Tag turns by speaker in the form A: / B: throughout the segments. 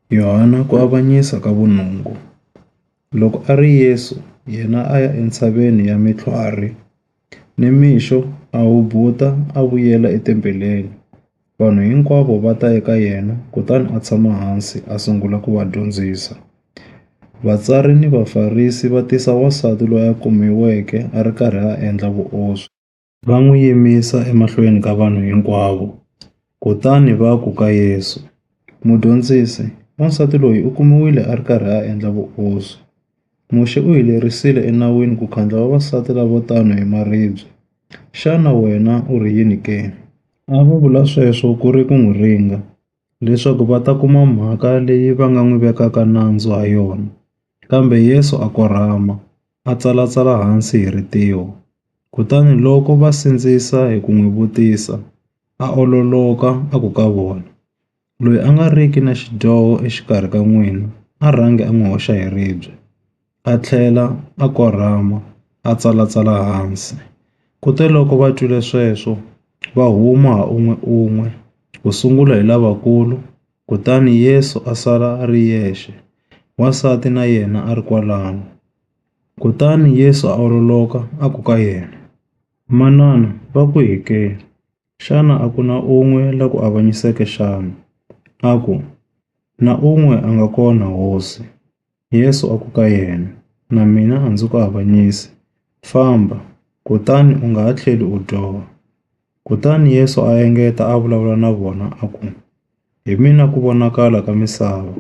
A: Yohana ku avanyisa ka vunungu. Loko a ri Yesu yena a ya entshaveni ya mitlhwari, nimixo a hubuta a vuyela etempeleni. Vanhu hinkwavo va ta eka yena kutani a tshama hansi a sungula ku va dyondzisa. Vatsari ni Vafarisi va tisa wansati loyi a kumiweke a ri karhi a endla vuoswi. va n'wi yimisa emahlweni ka vanhu hinkwavo, kutani va ku ka Yesu, Mudyondzisi, wansati loyi u kumiwile a ri karhi a endla vuoswi. Muxe u hi lerisile eNawini ku khandla vavasati lavo tano hi maribye. Xana wena u ri yini ke? A va vula sweswo ku ri ku n'wi ringa, leswaku va ta kuma mhaka leyi va nga n'wi vekaka nandzu ha yona. Kambe Yesu a korhama, a tsalatsala hansi hi ritiho, kutani loko va sindzisa hi ku n'wi vutisa, a ololoka a ku ka vona, Loyi a nga riki na xidyoho exikarhi ka n'wina a rhangi a n'wi hoxa hi ribye. A tlhela a korhama a tsalatsala hansi. Kuteloko va twile sweswo, va huma ha un'we-un'we, ku sungula hi lavakulu, Kutani Yesu a sala a ri yexe, wansati na yena a ri kwalano. Kutani Yesu a ololoka a ku ka yena, Manana va kwihi ke? Xana a ku na un'we la ku avanyiseke xana? A ku, Na un'we a nga kona, Hosi. Yesu a ku ka yena, Na mina a ndzi ku avanyisi. Famba, kutani u nga ha tlheli u dyoha. Kutani Yesu a engeta a vulavula na vona a ku, Hi mina ku vonakala ka misava.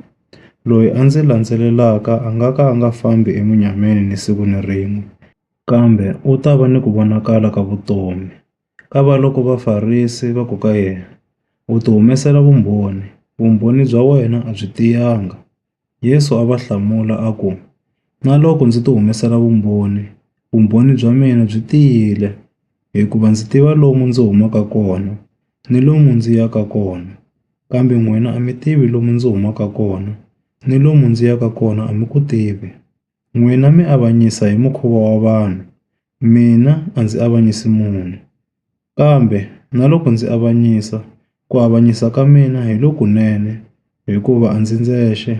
A: Loyi a ndzi landzelelaka a nga ka a nga fambi emunyameni ni siku ni rin'we, kambe u ta va ni ku vonakala ka vutomi. Kavaloko Vafarisi va ku ka yena, U ti humesela vumbhoni, vumbhoni bya wena a byi tiyanga. Yesu a va hlamula a ku, Na loko ndzi ti humesela vumbhoni, vumbhoni bya mina byi tiyile, hikuva ndzi tiva lomu ndzi humaka kona ni lomu ndzi yaka kona, kambe n'wina a mi tivi lomu ndzi humaka kona ni lomu ndzi yaka kona a mi ku tivi. N'wina mi avanyisa hi mukhuva wa vanhu, mina a ndzi avanyisi munhu. Kambe na loko ndzi avanyisa, ku avanyisa ka mina hi lokunene, hikuva a ndzi ndzexe,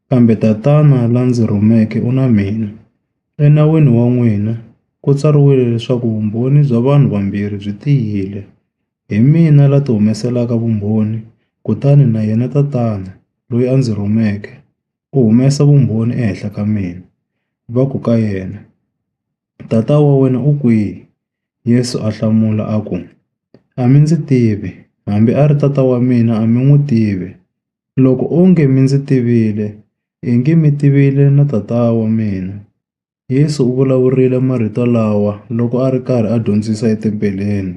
A: kambe Tatana la ndzi rhumeke u na mina. Enawini wa n'wina ku tsariwile leswaku vumbhoni bya vanhu vambirhi byi tiyile. Hi mina la ti humeselaka vumbhoni, kutani na yena Tatana loyi a ndzi rhumeke. u humesa vumbhoni ehenhla ka mina, va ku ka yena, Tata wa wena u kwihi? Yesu a hlamula a ku, A mi ndzi tivi, hambi a ri Tata wa mina a mi n'wi tivi. Loko onge mi ndzi tivile, i nge mi tivile na Tata wa mina. Yesu u vulavurile marito lawa loko a ri karhi a dyondzisa etempeleni,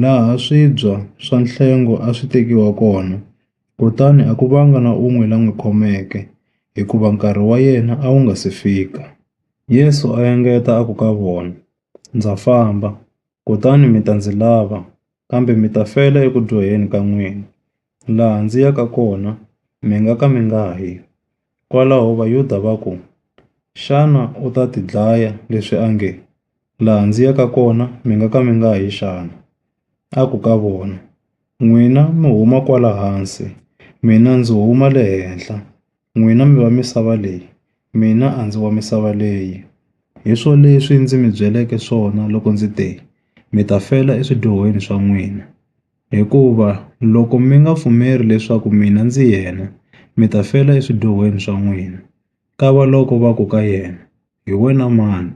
A: laha swibya swa nhlengo a swi tekiwa kona, kutani a ku vanga na un'we la n'wi khomeke, hikuva nkarhi wa yena a wu nga si fika. Yesu a engeta a ku ka vona, Ndza famba, kutani mi ta ndzi lava, kambe mi ta fela eku dyoheni ka n'wina. Laha ndzi yaka kona mi nga ka mi nga yi. Kwalaho Vayuda va ku, Xana u ta tidlaya leswi a nge, Laha ndzi yaka kona mi nga ka mi nga yi xana? A ku ka vona, N'wina mi huma kwala hansi, mina ndzi huma le henhla. N'wina mi va misava leyi, mina a ndzi wa misava leyi. Hi swoleswi ndzi mi byeleke swona loko ndzi te, Mi ta fela eswidyohweni swa n'wina. Hikuva loko mi nga pfumeli leswaku mina ndzi yena, mi ta fela eswidyohweni swa n'wina. Kavaloko va ku ka yena, Hi wena mani?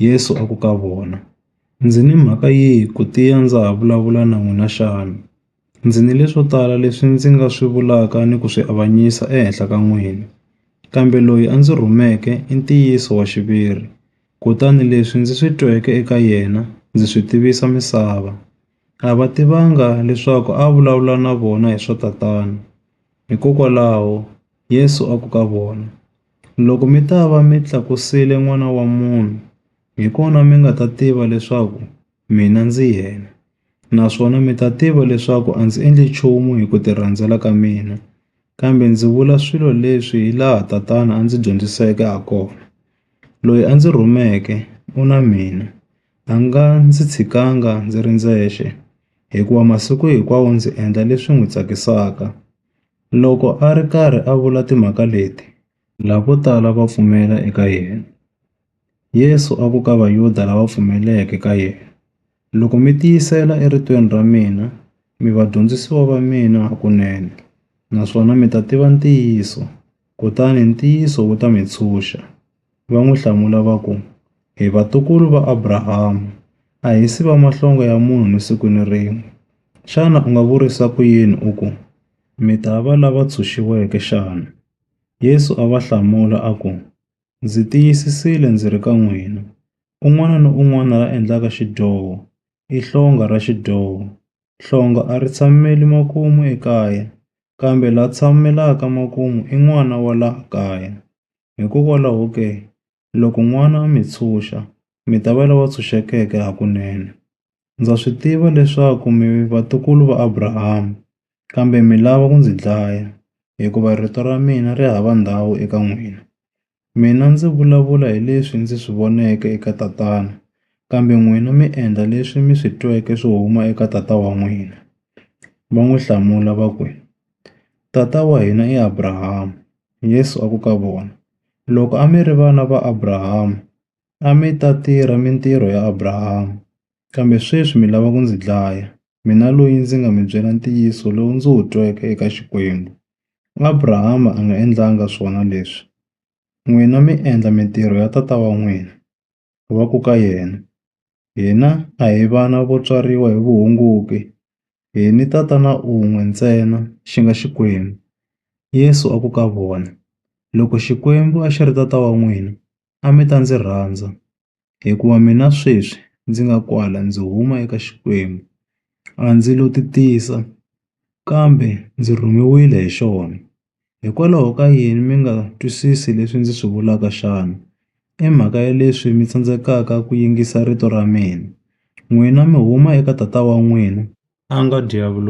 A: Yesu a ku ka vona, Ndzi ni mhaka yihi ku tiya ndza ha vulavula na n'wina xana? Ndzi ni leswo tala leswi ndzi nga swi vulaka ni ku swi avanyisa ehenhla ka n'wina. Kambe loyi a ndzi rhumeke i ntiyiso wa xiviri, kutani leswi ndzi swi tweke eka yena ndzi swi tivisa misava. A va tivanga leswaku a a vulavula na vona hi swa Tatana. Hikokwalaho, Yesu a ku ka vona, Loko mi ta va mi tlakusile N'wana wa munhu, hi kona mi nga ta tiva leswaku mina ndzi yena, naswona mi ta tiva leswaku a ndzi endli nchumu hi ku tirhandzela ka mina, kambe ndzi vula swilo leswi hilaha Tatana a ndzi dyondziseke hakona. Loyi a ndzi rhumeke u na mina. A nga ndzi tshikanga ndzi ri ndzexe, hikuva masiku hinkwawo ndzi endla leswi n'wi tsakisaka. Loko a ri karhi a vula timhaka leti, lavo tala va pfumela eka yena. Yesu a ku ka Vayuda lava pfumeleke ka yena, Loko mi tiyisela eritweni ra mina, mi vadyondzisiwa va mina hakunene, naswona mi ta tiva ntiyiso, kutani ntiyiso wu ta mi ntshunxa. Va n'wi hlamula va ku, Hi vatukulu va Abrahama, a hi si va mahlonga ya munhu ni siku ni rin'we. Xana u nga vurisa ku yini u ku, Mi ta va lava ntshunxiweke xana? Yesu a va hlamula a ku, Ndzi tiyisisile ndzi ri ka n'wina, un'wana ni un'wana la endlaka xidyoho, i hlonga ra xidyoho. Hlonga a ri tshameli makumu ekaya, kambe la tshamelaka makumu i n'wana wa laha kaya. Hikokwalaho ke, loko n'wana a mi tshunxa, mi ta va lava tshunxekeke hakunene. Ndza swi tiva leswaku mi vatukulu va Abrahama, kambe mi lava ku ndzi dlaya, hikuva rito ra mina ri hava ndhawu eka n'wina. Mina ndzi vulavula hi leswi ndzi swi voneke eka tatana, kambe n'wina mi endla leswi mi swi tweke swi huma eka tata wa n'wina. Va n'wi hlamula va ku, Tata wa hina i Abrahama. Yesu a ku ka vona, Loko a mi ri vana va Abrahama, a mi ta tirha mintirho ya Abrahama. Kambe sweswi mi lava ku ndzi dlaya, mina loyi ndzi nga mi byela ntiyiso lowu ndzi wu tweke eka Xikwembu. Abrahama a nga endlanga swona leswi, n'wina mi endla mintirho ya tata wa n'wina.” va ku ka yena, Hina a hi vana vo tswariwa hi vuhunguki, hi ni Tatana un'we ntsena, xi nga Xikwembu. Yesu a ku ka vona, Loko Xikwembu a xi ri Tata wa n'wina, a mi ta ndzi rhandza, hikuva mina sweswi ndzi nga kwala ndzi huma eka Xikwembu, a ndzi lo titisa, kambe ndzi rhumiwile hi xona. Hikwalaho ka yini mi nga twisisi leswi ndzi swi vulaka xana? I mhaka ya leswi mi tsandzekaka ku yingisa rito ra mina. N'wina mi huma eka tata wa n'wina, a nga Diyavulosi.